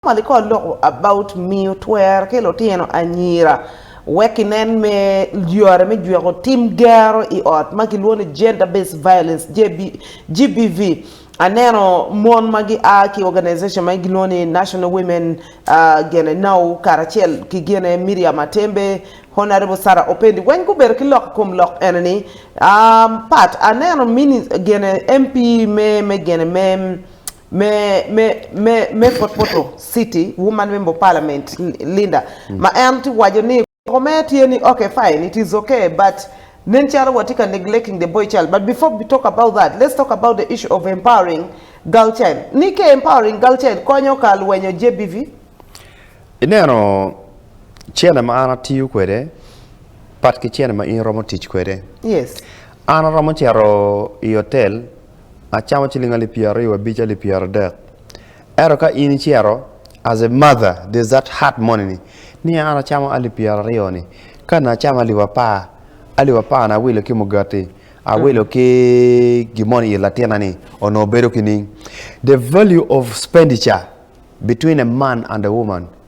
Mali kor loko about miyo twer ki lutino anyira wek kinen me yore me jweko tim gero i ot ma kilwongo ni Gender Based Violence, GBV. Aneno mon ma gia ki organization ma gilwongo ni National Women gene now karacel ki gene Miriam Atembe, Honourable Sarah Opendi weng gubedo ki lok i kom lok ene ni pat aneno gene MP me gene me me me me potpoto city woman member of parliament Linda ma en tye waco ni koko mere tye ni okay fine it is okay but nen calo watye ka neglecting the boy child but before we talk about that let's talk about the issue of empowering girl child ni ka empowering girl child konyo ka lwenyo GBV. Ineno cene ma an atiyo kwede pat ki cene ma in iromo tic kwede. Yes. An aromo cito i hotel Acamo ciling alip pyeraryo wa bic alip pyeradek. Ento ka in icito as a mother there's that heart money ni ni an acamo alip pyeraryo ni ka na acamo alip apar alip apar ni awilo ki mugati awilo ki gi moni it latina ni onongo bedo kining the value of spenditure between a man and a woman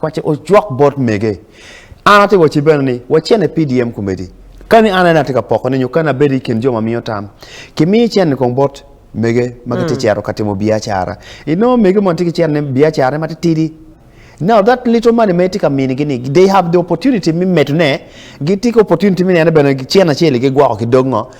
Paco ocwak bot mege. An atye ka wacci bene ni wacen i PDM komedi. Kani an en atye ka pokone nyo kani abedo i kin jo ma miyo tam, kimiyo icen-ni kong bot mege ma gitye ka cito ka timo biacara. Inongo mege mono tye ki cene, biacarane matitidi. Now that little money ma itye ka minigi ni, they have the opportunity me medone, gitye ki opportunity me nene bene cen acel-li gigwoko ki dog ngo,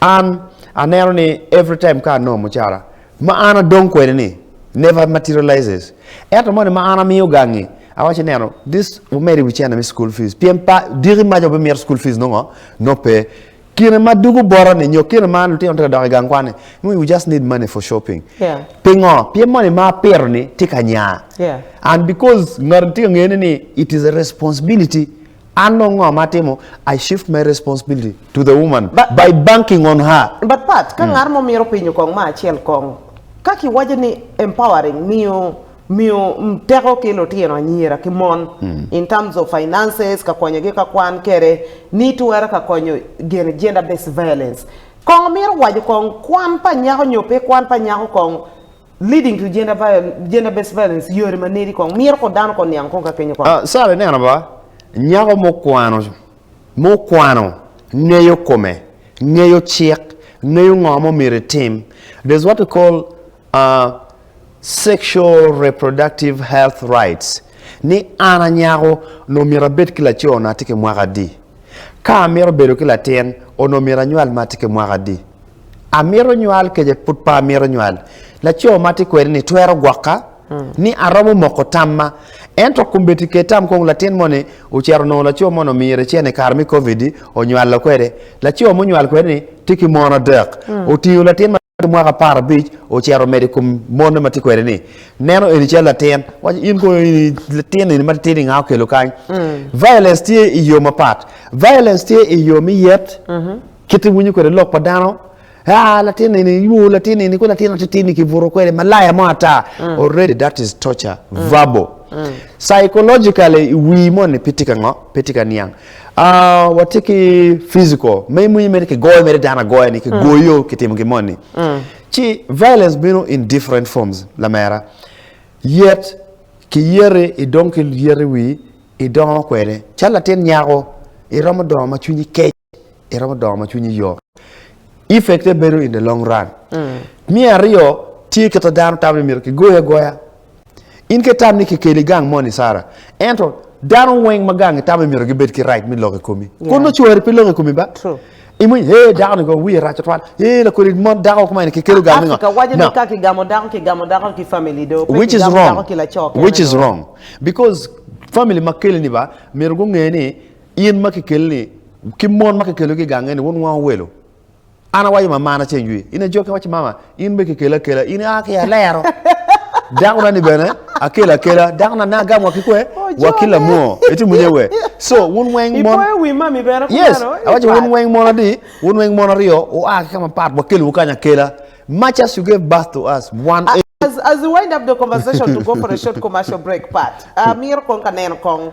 An aneno ni every time ka anongo mucara ma an adong kwede ni never materializes. Ento moni ma an amiyo gangi awaci neno this wumedo i wi cene me school fees pien pa diki maca wubimito school fees nongo no pe kine ma dugu bota ni nyo kine ma lutino tye ka dok i gang kwan ni nongo you just need money for shopping. Yeah. Pingo? Pien moni ma apito ni tye ka nya. Yeah. And because ngat tye ka ngene ni it is a responsibility An dong ngo ma atimo? I shift my responsibility to the woman by banking on her. But Pat, ka ngat mo mito pinyo kong ma acel kong, ka ki waco ni empowering, miyo miyo teko ki lutino anyira ki mon in terms of finances, ka konyo gi ka kwan kede ni twero ka konyo gene gender based violence. Kong mito waco kong kwan pa nyako nyo pe kwan pa nyako kong, Leading to gender violence, gender based violence yore ma nedi kong mito ko dano ko niang kong ka kenyo kong. Ah Sarah ineno ba nyako mo kwano mo kwano ngeyo kome ngeyo cik ngeyo ngo mo mito itim there's what we call ah sexual reproductive health rights ni an anyako onongo mito abed ki laco na tye ki mwaka adi ka amito bedo ki latin onongo mito anywal ma tye ki mwaka adi. Amito nywal kece pud pe amito nywal. Laco ma atye kwede ni twero gwoka ni aromo moko tamma. Ento kombeddi ket tam kong latin moni ocito onongo laco moni omiyo recen i kare me Covid-di onywalo kwede. Laco munywal kwede ni tye ki mon adek. Otingo latin ma tye ki mwaka apar abic ocito omedo i kom mone ma tye kwede ni. Neno eni calo latin. Waco in kono ini latin eni matitidi nga okelo kany? Violence tye i yo mapat. Violence tye i yo me yet, Kit iwinyo kwede lok pa dano, ah latin eni iywoo latin eni ko latin atitir ni kibuto kwede malaya mo ata mm. already that is torture mm. verbal mm. psychologically iwii mo ni piti ka ngo piti ka niang ah wati ki physical me mwenye mere ki goyo mere dana goya ni ki mm. goyo ki timo ki mo ni mm. ci violence bino in different forms la mera yet ki yere i dong ki yere wi i dongo kwede chala tin nyako i romo dongo ma cwinyi kec iromo dongo ma cwinyi yom. Effect ne bedo in the long run. Mm. Me aryo, tye kit ma dano tamo ni myero kigoyi agoya. In ka itam ni kikeli gang moni Sara, ento dano weng ma gangi tamo ni myero gibed ki right me lok i komi. Yeah. Kono cwari pe lok i komi ba. True. Imwiny, hey, dako ni go wiye rac twal. Hey, lakodi mon dako kuma eni kikelo gang ni ngo. Africa wacho ni ka kigamo dako, kigamo dako ki family do. Pe Which is kigamo wrong. dako ki laco kene Which is do. wrong. Because family ma keli ni ba, myero gunge ni In ma kikeli ni, ki mon ma kikelogi i gange ni wunwango welo, an awaco ma mana ceng jwi, in ajokke iwacci, Mama, in be kikeli akela, in ia ki alero. Dakona-ni bene akelo akela, dakona ne agamowa ki kwe, wa ki lamwoo. Itimo nye we? So, wun weng mon. Ipoyo wi mami bene Yes, kumeno. Ii, awaco wun pat. weng mon adi, wun weng mon aryo wua ki ka mapat, wakelowu kany akela. Much as you gave birth to us, wan A- As, as we wind up the conversation to go for a short commercial break, Pat, amito kong ka neno kong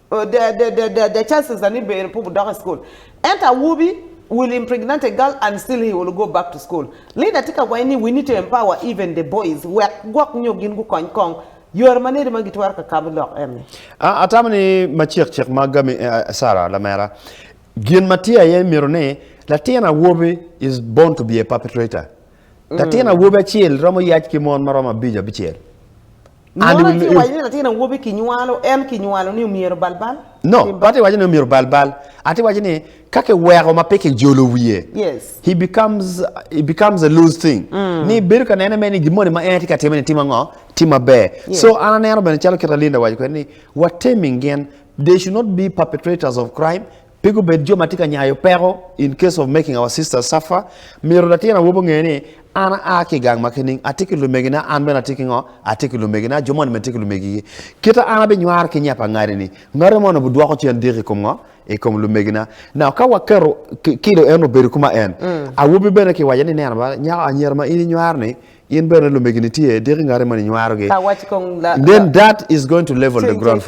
The chances that ni ber pu wudok i school. Ento awobi will impregnant a girl and still he will go back to school. Leader tye ka waco ni we need to empower even the boys wek gwok nyo gin gukony kong yore ma nedi ma gitwero ka kabo lok eni. A Atamo ni macek cek ma gami Sarah lamera. Gin ma tye aye myero ni latin awobi is born to be a perpetrator. Latin awobi acel romo yac ki mon ma romo abico abicel. Mono Ani- ci waco ni latin awobi kinywalo en kinywalo ni omyero balbal? No, pe Timba? ati waco ni omyero balbal. Ati waco ni ka kiweko ma pe kijolo wiye, Yes. he becomes he becomes a loose thing. Ni bedo ka nene mere ni gin moni ma en tye ka time ni timo ango? Tye maber. Yes. So an aneno bene calo kit ma Linda owaco kwede ni watemi gin they should not be perpetrators of crime Pe gubed jo ma tye ka nyayo peko in case of making our sisters suffer. Myero latin awobi onge ni, An aa ki i gang ma kining, atye ki lumegina, an bene atye ki ngo? Atye ki lumegina, jo moni bene tye ki lumegigi. Kite an abinywar ki nya pa ngati-ni, ngati moni obidwoko cen diki i kom ngo? I kom lumegina. Now ka waketo kilo en obedo ku ma en, awobi bene kiwaco ni, Neno ba, nyako, anyira ma in inywaro-ni, in bene lumegini tye, diki ngati moni inywarogi. Then that is going to level the ground for.